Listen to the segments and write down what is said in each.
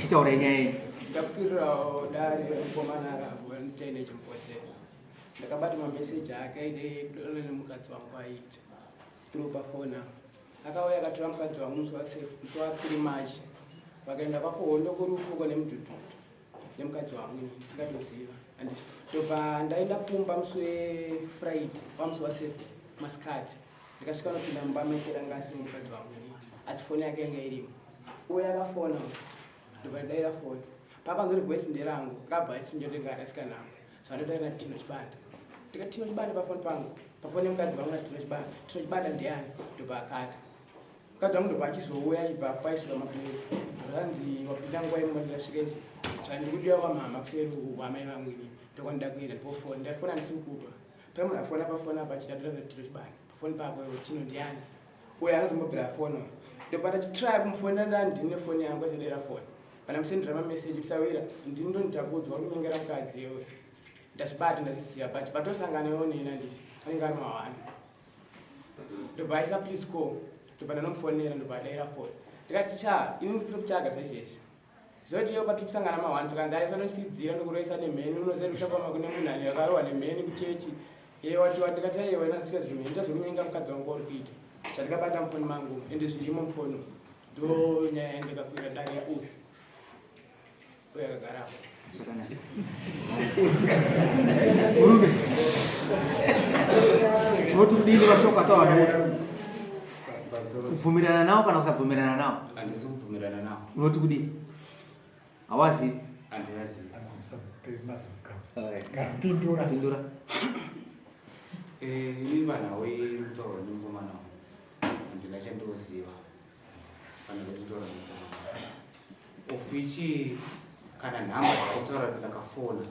Chitaura nyaya iyi. Ndakupirirawo dare mukomana wemutene chimbodzera. Ndakabata mameseji ake aide kudonana nemukadzi wangu aiita through pafona. Akauya akatora mukadzi wangu musi wa three March vakaenda kwakuhondo kurufuko nemudhudhudhu. nemukadzi wangu ini ndisingatoziva and ndobva ndaenda kumba musi wefriday pamusi wasaturday masikati ndikasvika nopinda mumba maikera anga asiri mukadzi wangu ini asi foni yake yanga irimo uye akafona ndobva ndaira foni pakanzori voice nderangu kabva chinjondengarasikanamu zvandotaira natino chibanda ndika tino chibanda pafoni pangu pafoni yemukadzi vangu natino chibanda tino chibanda ndeyani ndobva akata Kada munhu pachizouya aibva paisuka maplate zvanzi wapinda nguva imwe ndasvika izvi zvandikudiwa kwamama kuseri uku kwamai vamwini ndokwandida kuenda pofona ndafona ndisiri kupa pamuna fona pafona apa chitadira natiro chibani pafoni pako tino ndiani uye anotombobvira fono ndobata chitry kumufonera ndani ndini nefoni yangu asadera foni kana musendera mameseji kusawira ndini ndonitakudzwa kunyengera mukadzi ewe ndazvibata ndazvisiya but patosangana onena nditi anenge ari mawani ndobva aisa please call ndobva ndanomufonera ndobva adaira foni ndikati cha ini ndiri kutsvaga zvaizvezvi zoti iyo kwatiri kusangana mahwani tikanzi ayo sanotyidzira ndikuroisa nemheni unoziva kuti uchafamba kune munhu ani akarohwa nemheni kuchechi iye wati wandikati aiyewa inasvika zvimwe ita zvekunyenga mukadzi wangu kwauri kuita zvandikabata mufoni mangu ende zvirimo mufoni ndo nyaya yandikakwira dare yaushu kubvumirana nawo kana kusabvumirana nawo handisi kubvumirana nawo unoti kudii hawazivi handivazivi pindura eh, ini vanhawe mutauro nemukomana handina chandoziva kana vekutaura of which kana nhamba dzakutaura ndakafona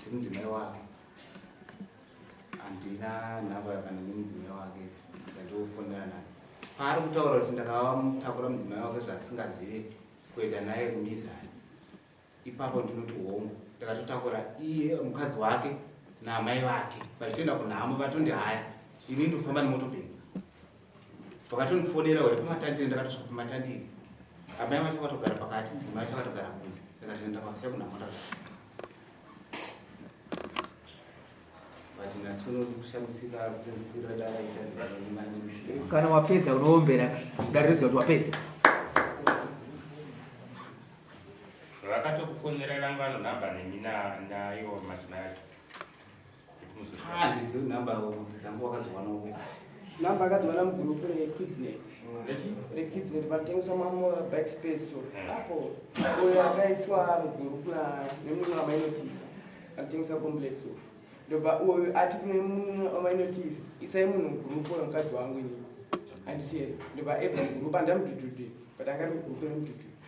dzemudzimai wake handina nhamba kana nemudzimai wake dzandiofonera nadzo paari kutaura kuti ndakavamutakura mudzimai wake zvaasingazive kuenda naye kumizani ipapo ndinoti hongu ndakatotakura iye mukadzi wake naamai vake vachitoenda kunhamo vatondi haya ini ndofamba nemotobheki vakatondifonera uya pamatandire ndakatosvika pamatandire amai vacho vakatogara pakati mudzimai vacho vakatogara kunze ndakatoenda kwasiya kunhamo ndaka kana wapedza unoombera dare riziva kuti wapedza vakatokufonerera ngano nhamba nemi nayo madzimai acho handizivi nhamba dzangu wakazowanoko nhamba akazowana mugrupu rekidsnet rekidsnet vanotengeswa maback space so hmm. apo uyo akaiswa mugrupu nemunhu wamainotis anotengesa complex so ndoba uyo ati kune munhu wamainotis isai munhu mugrupu oyo mukadzi wangu ini andisiye ndoba ebva mugrupu andamududude but angari mugrupu remududude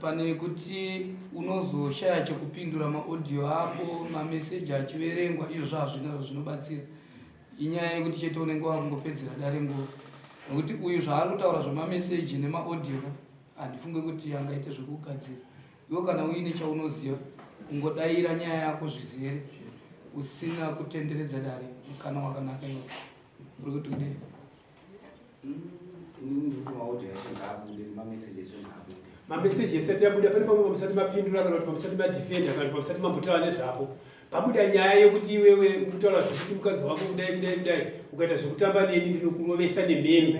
pane kuti unozoshaya chekupindura maaudio ako mameseji achiverengwa izvozvo hazvina zvinobatsira inyaya yekuti chete unenge wakungopedzera dare nguva nokuti uyu zvaari kutaura zvemameseji nemaaudio handifunge kuti angaite zvekugadzira iwo kana uine chaunoziva ungodaira nyaya yako zvizere usina kutenderedza dare mukana wakanaka iwo uri kuti kudei mameseji esati yabuda pane pamwe pamusati mapindura kana kuti pamusati madefenda kana kuti pamusati mambotaura nezvako pabuda nyaya yekuti iwewe ukutaura zvekuti mukadzi wako kudai kudai kudai ukaita zvekutamba neni ndinokurovesa nemheni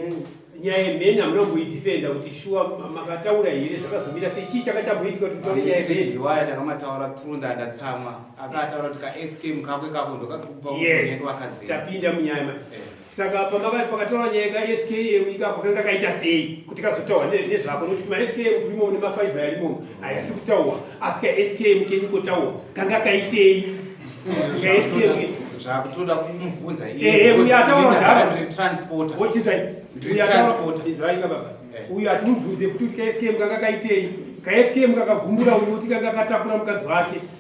nyaya yemheni hamuna kumboidefenda kuti shuwa makataura here zvakazomira sei chii chakatamboitika kuti mutaure nyaya yemheni waya takamataura trunda ndatsamwa akataura kuti kask mukako ikako ndokakupa yes. vakadzi tapinda munyaya manje eh. Saka pamakati pakataura nyaya yeka SKM ikako kanga kaita sei kuti kazotaura nezvako nokuti kuma SKM turimo mune mafaiva yarimo hayasi kutaura asi ka SKM kenyu kotaura kanga kaitei ka SKM zvakutoda kumubvunza iye uyo ataura ndara ndiri transporter wochitai ndiri transporter ndiraika baba uyo atimubvunze futi kuti ka SKM kanga kaitei ka SKM kakagumbura uyo kuti kanga katakura mukadzi wake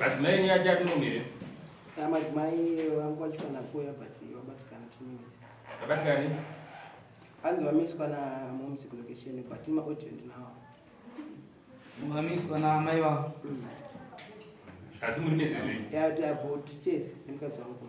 Madzimai enyu aja anomire. Ah, madzimai vangu vacho kana kuya but vabatikana two minutes. Vabatikani? Hanzi vamiswa na momsi location but ma audio ndinawo. Vamiswa na amai vavo. Hmm. Asi muri mezi zvi? Yeah, they are both chase. Ndimukadzi wangu.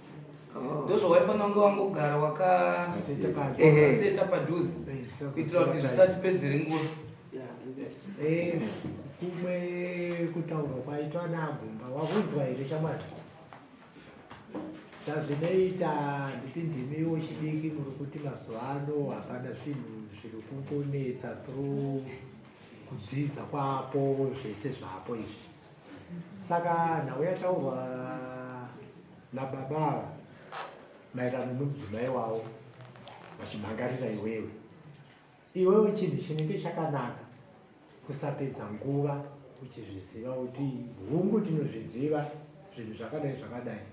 Oh. ndozvawaifanira kunge wangogara wakaseta padhuze kuitira kuti zvisatipedzere nguva eh, kumwe kutaurwa kwaitwa naagumba wakunzwa here shamwari tazvinoita nditi ndimi wechidiki muri kuti mazuva ano hapana zvinhu zviri kungonetsa through kudzidza kwapo zvese zvapo izvi saka nhau yataurwa nababa ava maererano nomudzimai wavo vachimhangarira iwewe iwewe chinhu chinenge chakanaka kusapedza nguva uchizviziva kuti hungu tinozviziva zvinhu zvakadai zvakadai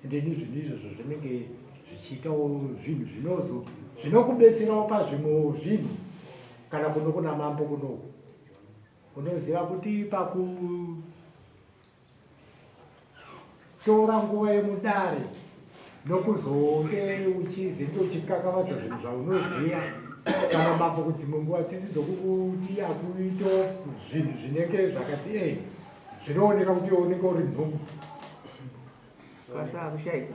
ende ni zvinhu izvozvo zvinenge zvichiitawo zvinhu zvinozo zvinokubetserawo pazvimwewo zvinhu kana kuno kuna mambo kunoku unoziva kuti pakutora nguva yemudare nokuzonge uchizi ndochikakavadza zvinhu zvaunoziva kana mambo kudzimwe nguva tsitsi dzokukuti akuito zvinhu zvinenge zvakati e zvinooneka kuti oneka uri nhungu kwasaa kushaika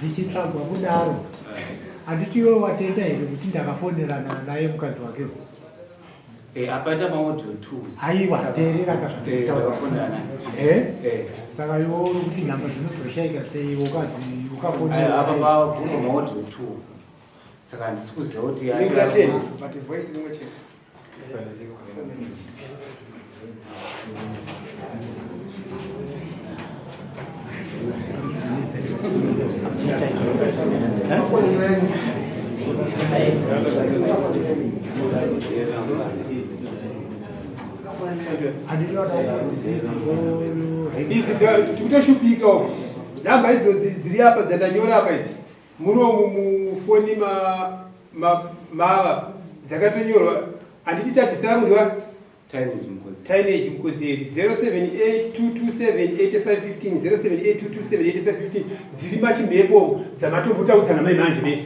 dzichitsvagwa kudaro handiti iwe watenda here kuti ndakafonerana naye mukadzi wake eh, apaita maodio aiwa teerera kazvandakafonerana eh? eh. saka iwe uri kuti nhamba dzinozoshaika sei ukadzi ukafoneraaabvuma maodio two Saka handisi kuziva kuti tikutoshupika uko dzamba idzo dziri apa dzandanyora apa idzi Munomu mufoni ma, ma, mava dzakatonyorwa handiti tatisanzwa taineji mukodzeri 0782278515 dziri machimhepo dzamatombotaudzana mai manje mese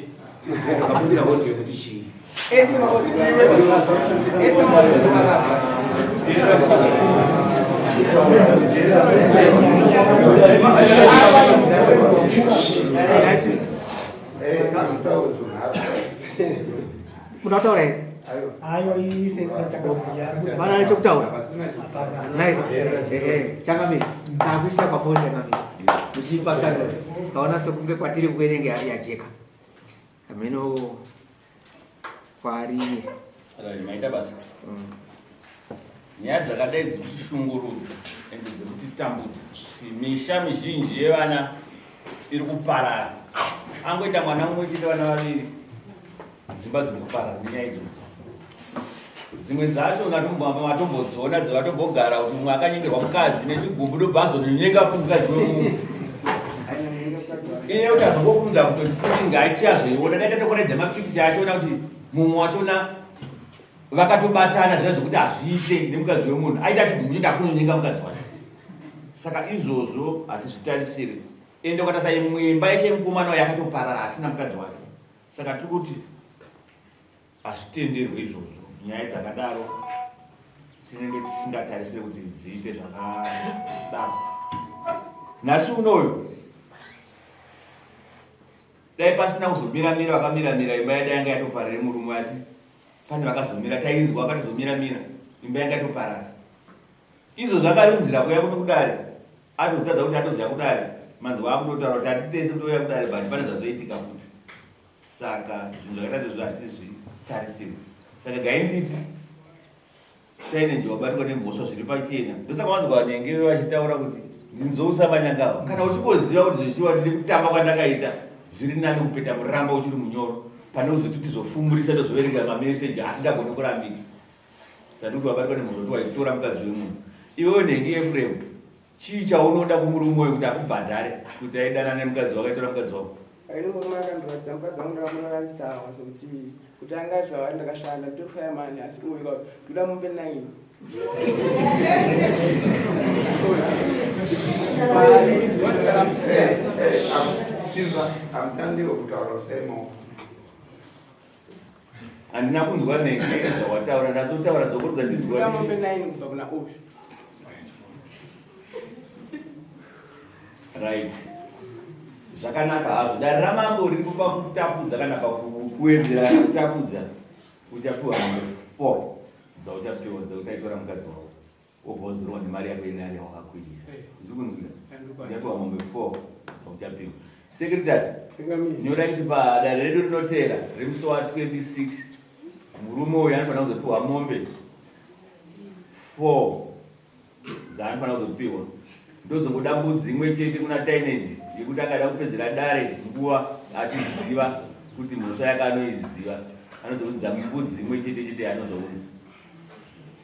Munotaura here? Hayo iyi sekuda chakabhuya. Bana nechokutaura. Naye ehe chakamira. Takuisa pamoja nami. Uchipa kando. Kaona sekunge kwatiri kuenenge ari yajeka. Hameno kwari. Rari maita basa. Mm. Nyaya dzakadai dzikushungurudza ende dzekutitambudza. Misha mizhinji yevana iri kuparara. Angoita mwana mumwe chete vana vaviri. Dzimba dziri kuparara nenyaya idzodzo. dzimwe dzacho vatombodzona dzevatombogara kuti mumwe akanyengerwa mukadzi nechigumbu ndobva azononyenga kuti mukadzi wemunhu iye kuti azongokunza kuti kuti ngaichi azoiona dai tatokoredza mapikicha achiona kuti mumwe wachona vakatobatana zvina zvekuti hazviite nemukadzi wemunhu aita chigumbu choda kunonyenga mukadzi wacho saka izvozvo hatizvitarisiri ende ukatasa imwimba yeshe mukomana wayo yakatoparara asina mukadzi wake saka tiri kuti Hazvitenderwe izvozvo. Nyaya dzakadaro tinenge tisingatarisire kuti dziite zvakadaro. Nhasi unoyu dai pasina kuzomiramira vakamiramira imba yada yanga yatoparira murume asi pane vakazomira tainzwa vakatozomiramira imba yanga yatoparara izvo zvakarunzira kuya kuno kudare atozotadza kuti atoziva kudare manzwa akutotaura kuti hatitese kutouya kudare but pane zvazoitika futi saka zvinhu zvakadai izvozvo hatizvitarisirwi saka gainditi taine nje wabatwa nemhosva zviri pachena ndosaka wanzwa vanenge vachitaura kuti ndinzousa manyangava kana uchingoziva kuti zvechiwa ndiri kutamba kwandakaita zviri nani kupeta muramba uchiri munyoro pane uzoti tizofumurisa tozvoverenga mameseji asingagoni kurambika sanduti wabatwa nemhosva kuti waitora mukadzi wemunhu iwewe nhengi efuremu Chii chaunoda kumurume uyu kuti akubhadhare kuti aidana nemukadzi wako aitora mukadzi wako? Ini murume akandiratidza mukadzi wangu ndakamuratidza hawa sokuti kuti anga aziva vari ndakashanda nditoshaya mani asi uyu ka ndoda mupe nine. Amtandiwo kutaura semo. handina kunzwa neke dzawataura ndatotaura dzoko dzandinzwaombe nine kubva kuna osh right zvakanaka hazvo dare ramambo riri kupa kutapudza kana pakuwedzera kana kutapudza uchapiwa mambo four dzauchapiwa dzautaitora mukadzi wavo wobva wadzorwa nemari yako inani yawakakwirisa ndikunzwira ndiatowa mombe four uchapihwa sekretary nyoda kuti padare redu rinoteera remusi wa 26 murume uyu anofanira kuzopiwa mombe four dzaanofanira kuzopiwa ndozongoda mbudzi imwe chete kuna tainage yekuti akada kupedzera dare nguva achiziva kuti mhosva yake anoiziva anozoudza mbudzi imwe chete chete yaanozounza